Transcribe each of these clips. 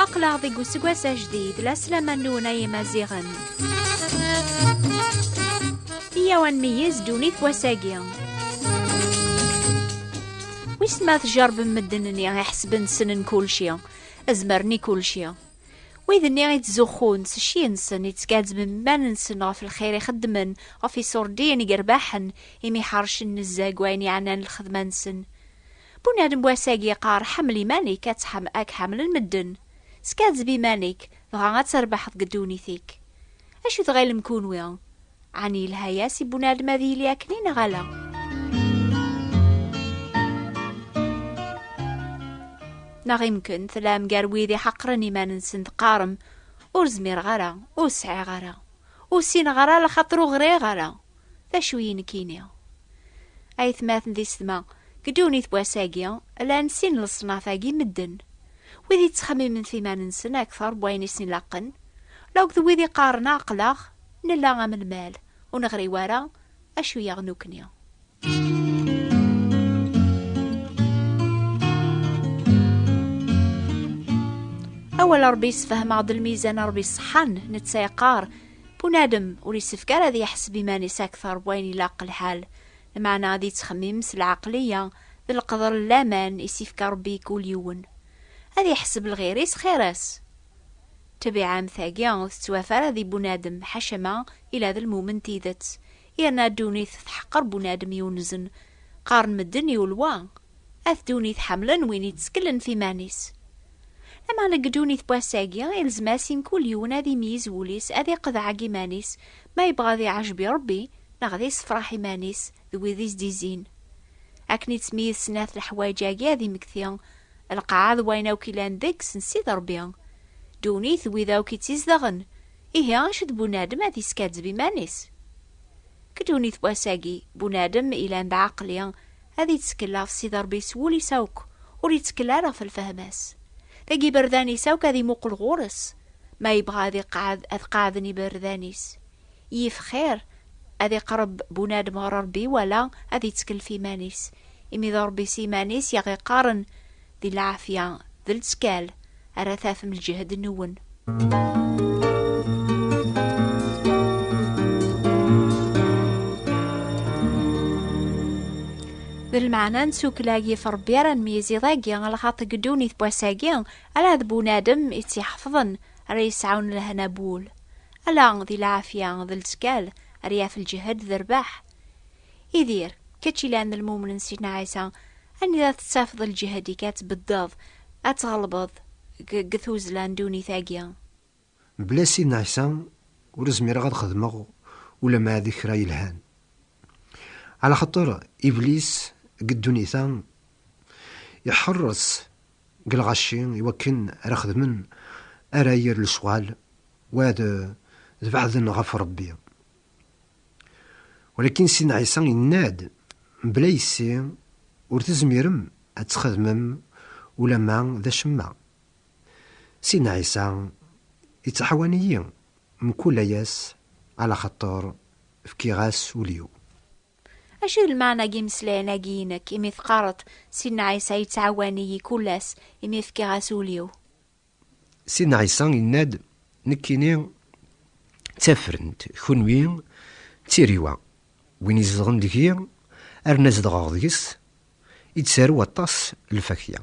aqlaɣ deg useggas ajdid la slaman-nwen ay imaziɣen iyaw ad nmeyyez ddunit wass-agi wis ma tjerbem medden-nni iḥesben ssnen kulci azmeren i kulci Wid-nni i ttzuxxun s cci-nsen, i ttgazzmen iman-nsen ɣef lxir i xeddmen, ɣef iṣurdiyen i yerbaḥen, imi ḥercen nezzeh deg wayen yeɛnan lxedma-nsen. Bunadem n wass-agi yeqqar, Ḥemmel iman-ik, ad k ḥemmlen medden. Skazzeb iman-ik, dɣa ad trebḥeḍ deg ddunit-ik. Acu tɣilem kunwi? Ɛni yelha-yas i bunadem ad yili akken i neɣ ala? Neɣ imken tlam gar wid iḥeqren iman-nsen teqqarem ur zmireɣ ara, ur sɛiɣ ara, ur sineɣ ara lxaṭer ur ɣriɣ ara. D acu i nekini? Aytmaten di sedma, deg ddunit n wass-agi, llan sin n leṣnaf-agi n medden, wid yettxemmimen ɣef yiman-nsen akteṛ n wayen i sen-ilaqen, laug d wid iqqaren aql-aɣ, Nella am lmal, ur neɣri wara acu yaɣ nukni. Awal Ṛebbi yessefhem-aɣ-d lmizan Ṛebbi ṣeḥḥan, netta yeqqar, bunadem ur yessefk ara ad yeḥseb iman-is akteṛ n wayen ilaq lḥal, lmeɛna ad yettxemmim s lɛeqliya d leqder n laman i s-ifka Ṛebbi i kul yiwen. Ad yeḥseb lɣir-is xir-as. Ṭṭbiɛa-m-tagi ur tettwaf ara di bunadem, ḥaca ma ila d lmumen tidet. Yerna ddunit tḥeqqer bunadem yunzen. Qqaren medden i ulwa, At ddunit ḥemmlen win itteklen f iman-is. Lameɛna deg ddunit n wass-agi, ilzem-as i mkul yiwen ad imyiz wul-is, ad iqḍeɛ deg iman-is, ma yebɣa ad iɛjeb i Ṛebbi, neɣ ad issefraḥ iman-is d wid i s-d-izzin. Akken i tt-myid snat leḥwayeǧ-agi ad imekti, lqaɛa d wayen akk ilan deg-s n Sidi Ṛebbi, ddunit d wid akk i tt-izedɣen, ihi acu d bunadem ad yeskaddeb iman-is? Deg ddunit n wass-agi, bunadem ilan d aɛeqli ad ittekkel ɣef Sidi Ṛebbi s wul-is akk, ur ittekkel ara ɣef lfehma-s. Deg yiberdan-is akk ad imuqel ɣur-s, ma yebɣa ad iqeɛɛed ad qeɛɛden yiberdan-is, Yif xir ad iqreb bunadem ɣer Rebbi wala ad ittkellef iman-is, imi d Rebbi s iman-is i aɣ-iqqaren, Di lɛafya, d lettkal, ara tafem lǧehd-nwen. D lmeɛna n tsukkla yif Rebbi ara nmeyyez iḍ-agi, lxaṭi deg ddunit n wass-agi, ala d bunadem i tt-iḥefḍen ara yesɛun lehna n wul. Ala di lɛafya d lettkal ara yaf lǧehd d rrbeḥ. Idir, kečč ilan d lmumen n Sidna Ɛisa, anida tettafeḍ lǧehd-ik ad tbeddeḍ, ad tɣelbeḍ deg tuzzla n ddunit-agi? Mebla Sidna Ɛisa ur zmireɣ ad xedmeɣ ulamma d kra yelhan. Ɛlaxaṭer Iblis deg ddunit-a iḥeṛṛes Deg lɣaci i wakken ara xedmen ara yir leswal wad d beɛden ɣef Rebbi. Walakin Sidna Ɛisa yenna-d mebla yessi, Ur tezmirem ad txedmem ulamma d acemma. Sidna Ɛisa yettaḥawan-iyi mkul aya-s alaxaṭer fkiɣ-as ul-iw. Acu d lmeɛna n yimeslayen-agi i nekk, imi teqqareḍ, Sidna Ɛisa yettɛawan-iyi kul ass, imi fkiɣ-as ul-iw? Sidna Ɛisa yenna-d, Nekkini d tafrent, kunwi d tiriwa. Win izedɣen deg-i, arna zedɣeɣ deg-s, ittarew aṭas n lfakya.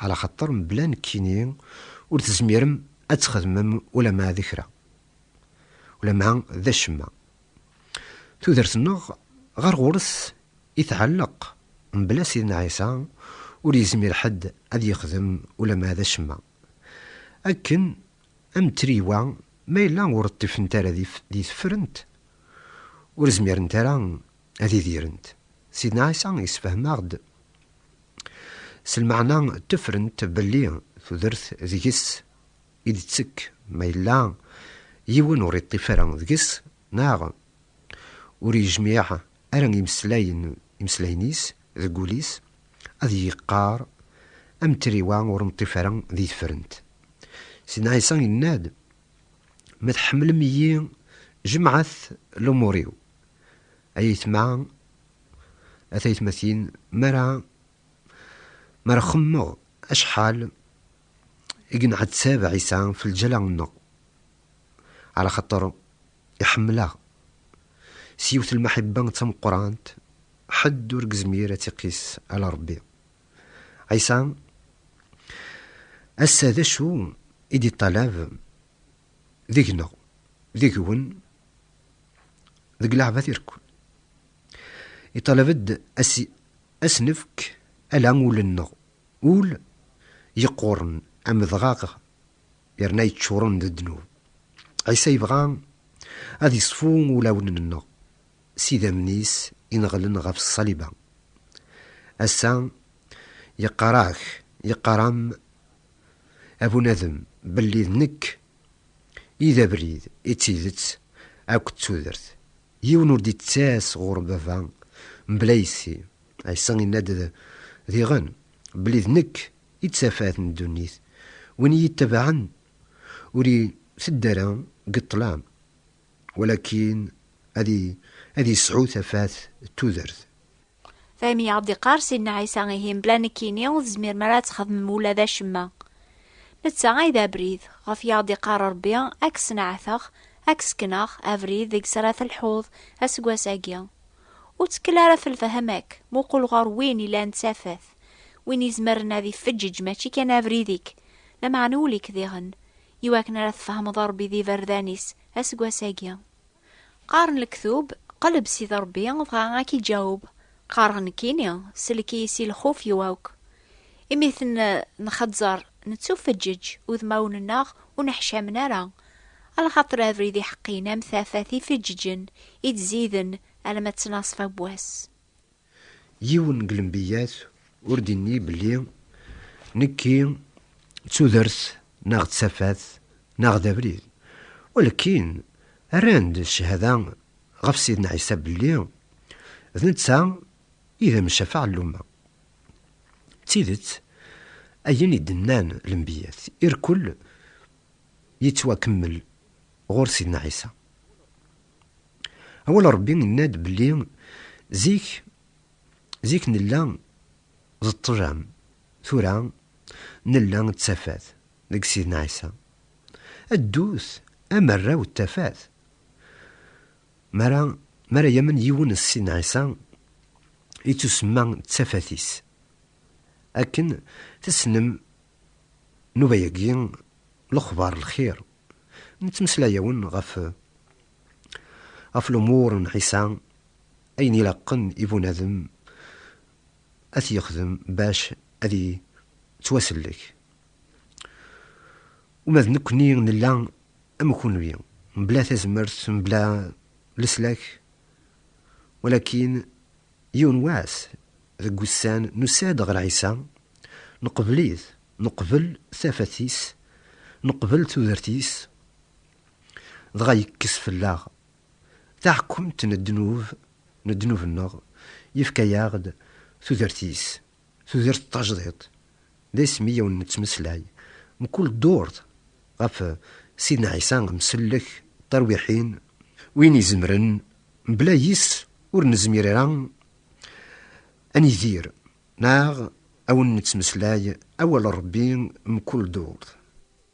Ɛla xaṭer mebla nekkini ur tezmirem ad txedmem ulamma d kra, ulamma d acemma. Tudert-nneɣ ɣer ɣur-s i tɛelleq, mebla Sidna Ɛisa ur yezmir ḥedd ad yexdem ulamma d acemma. Akken am triywa ma yella ur ṭṭifent ara di tefrent, ur zmirent ara ad idirent. Sidna Ɛisa yessefhem-aɣ-d s lmeɛna n tefrent belli tudert deg-s i d-tettekk ma yella yiwen ur iṭṭif ara deg-s neɣ ur yejmiɛ ara imeslayen imeslayen-is deg wul-is, ad yeqqar am triwa ur neṭṭif ara di tefrent. Sidna Ɛisa yenna-d, Ma tḥemmlem-iyi, jemɛet lumur-iw. Ay aytma, a taytmatin, mi ara mi ara xemmemeɣ acḥal i yenɛettab Ɛisa f lǧala-nneɣ, ɛla xaṭer iḥemmel-aɣ s yiwet lmeḥibba d tameqqrant ḥedd ur gezmir ad tt-iqis ala Ṛebbi. Ɛisa ass-a d acu i d-iṭṭalab deg-neɣ, deg-wen, deg leɛbat irekkun? Iṭṭalab-d ad s-nefk ala ul-nneɣ. Ul yeqquren amedɣaɣ yerna yeččuren d ddnub. Ɛisa yebɣa ad yeṣfu ulawen-nneɣ s idammen-is ineɣlen ɣef ṣṣaliba. Ass-a, yeqqar-ak, yeqqar-am, a bunadem, belli d nekk i d abrid, i d tidet akked tudert. Yiwen ur d-ittas ɣur Baba mebla yessi. Ɛisa inna-d diɣen belli d nekk i d tafat n ddunit, win i yi-ittabaɛen ur iteddu ara deg ṭṭlam, walakin ad yesɛu tafat d tudert. Daymi i aɣ-d-iqqar Sidna Ɛisa ihi mebla nekkini ur tezmirem ara ad txedmem ula d acemma. Netta ay d abrid, ɣef i aɣ-d-iqqar Rebbi, ad k-sneɛteɣ, ad k-sekneɣ, abrid deg-s ara telḥuḍ aseggas-agi. Ur ttekkel ara ɣef lefhama-k, muqel ɣer win ilan tafat, win izemren ad ifeǧǧeǧ mačči kan abrid-ik, lameɛna ul-ik diɣen, i wakken ara tfehmeḍ Ṛebbi d iberdan-is aseggas-agi. Qqaren lektub, Qleb Sidi Ṛebbi, dɣa a k-iǧaweb, qqareɣ nekkini, sellek-iyi si lxuf-iw akk. Imi ten-nxeẓẓer, nettufeǧǧeǧ, udmawen-nneɣ ur neḥcamen ara. Lxaṭer abrid iḥeqqin am tafat ifeǧǧeǧen i d-ziden alamma ttnaṣfa n wass. Yiwen deg lembiyat ur d-inni belli nekki d tudert neɣ d tafat neɣ d abrid, walakin rran-d cchada ɣef Sidna Ɛisa belli d netta I d amcaf ɛelluman. D tidet, ayen i d-nnan lenbiyyat, irkel yettwakemmel ɣur Sidna Ɛisa. Awal n Rebbi yenna-d belli zik, zik nella d ṭṭlam, tura nella d tafat deg Sidna Ɛisa. Ddut am arraw n tafat. Mi ara, mi ara yamen yiwen s Sidna Ɛisa, yettusemma d tafat-is. Akken tessnem, nnuba-agi, lexbar n lxir, nettmeslay-awen ɣef, ɣef lumuṛ n Ɛisa, ayen ilaqen i bunadem ad t-yexdem bac ad yettwasellek. Uma d nekkni nella Am kunwi, mebla tazmert, mebla leslak, walakin yiwen wass deg wussan nusa-d ɣer Ɛisa, neqbel-it, neqbel tafat-is, neqbel tudert-is, dɣa yekkes fell-aɣ taḥkumt n ddnub, n ddnub-nneɣ, yefka-aɣ-d tudert-is, Tudert tajdiṭ d isem i awen-nettmeslay mkul ddurt ɣef Sidna Ɛisa amsellek, tarwiḥin, win izemren mebla yis ur nezmir ara ad nidir neɣ awen-nettmeslay awal n Rebbi mkul ddurt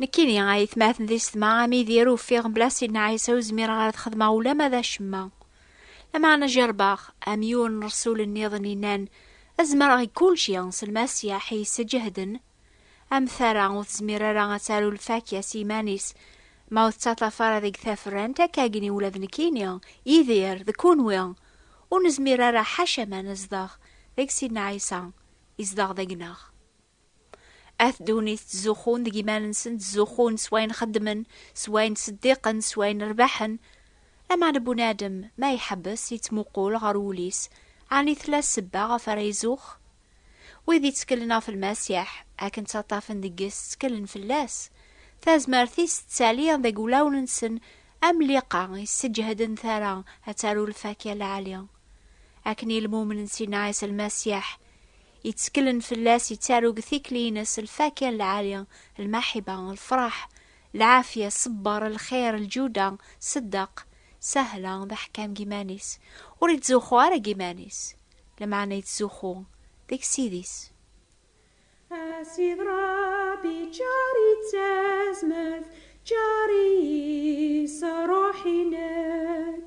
Nekkini ay tmaten di setma am idir ufiɣ mebla Sidna Ɛisa ur zmireɣ ara ad xedmeɣ ulama d acemma. Lameɛna jerbeɣ, am yiwen n rresul nniḍen yennan, ad zemreɣ i kulci s Lmasiḥ i yessǧehden. Am tara ur tezmir ara ad taru lfakya s yiman-is, ma ur tettaṭṭaf ara deg taferrant, akkagni ula d nekkini, Yidir, d kenwi, ur nezmir ara ḥaca ma nezdeɣ deg Sidna Ɛisa, yezdeɣ deg-neɣ. At ddunit ttzuxxun deg iman-nsen, ttzuxxun s wayen xeddmen, s wayen ttseddiqen, s wayen rebḥen. Lameɛna bunadem ma iḥebbes yettmuqul ɣer wul-is, ɛni tella ssebba ɣef ara izux? Wid yettkellen ɣef Lmasiḥ, akken ttaṭṭafen deg-s ttkellen fell-as. Tazmert-is tettali deg wulawen-nsen am liqa yesseǧehden tara ad taru lfakya lɛali. Akken i lmumen n Sina Ɛisa Lmasiḥ, yetteklen fell-as yettaru deg tikli-ines lfakya n lɛali, lmaḥiba, lfraḥ, lɛafya, ṣṣebber, lxir, lǧuda, ṣeddeq, sahla, d aḥkam deg yiman-is, ur yettzuxxu ara deg yiman-is, lameɛna yettzuxxu deg Ssid-is. A Ssid Ṛebbi ččar-iyi d tazmert, ččar-iyi s Ṛṛuḥ-inek.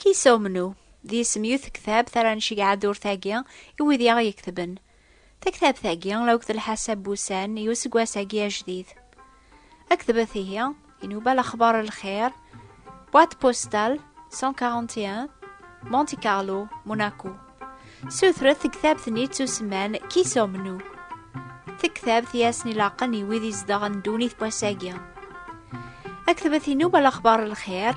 Kisa Umnu, d yisem yiwet tektabt ara nceg ɛaddurt-agi i wid i aɣ-yeketben. Taktabt-agi, la akked lḥasab n wussan i useggas-agi ajdid. Ad ketbet ihi, inuba lexbar n lxir, Boîte postale 141, Monte Carlo, Monaco. Sutret tektabt-nni d usemman Kisa Umnu. Tektabt i asen-ilaqen i wid izedɣen ddunit n wass-agi. Ad ketbet inuba lexbar n lxir,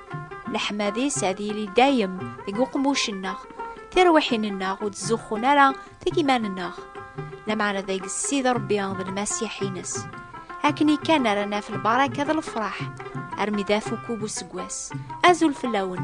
leḥmadi-s ad yili dayem deg uqemmuc-nneɣ tirwiḥin-nneɣ ur d-zuxxun ara deg iman-nneɣ lameɛna deg Ssid Rebbi d lmasiḥ-ines akken kan ara naf lbaraka d lefraḥ armi d afukub useggas azul fell-awen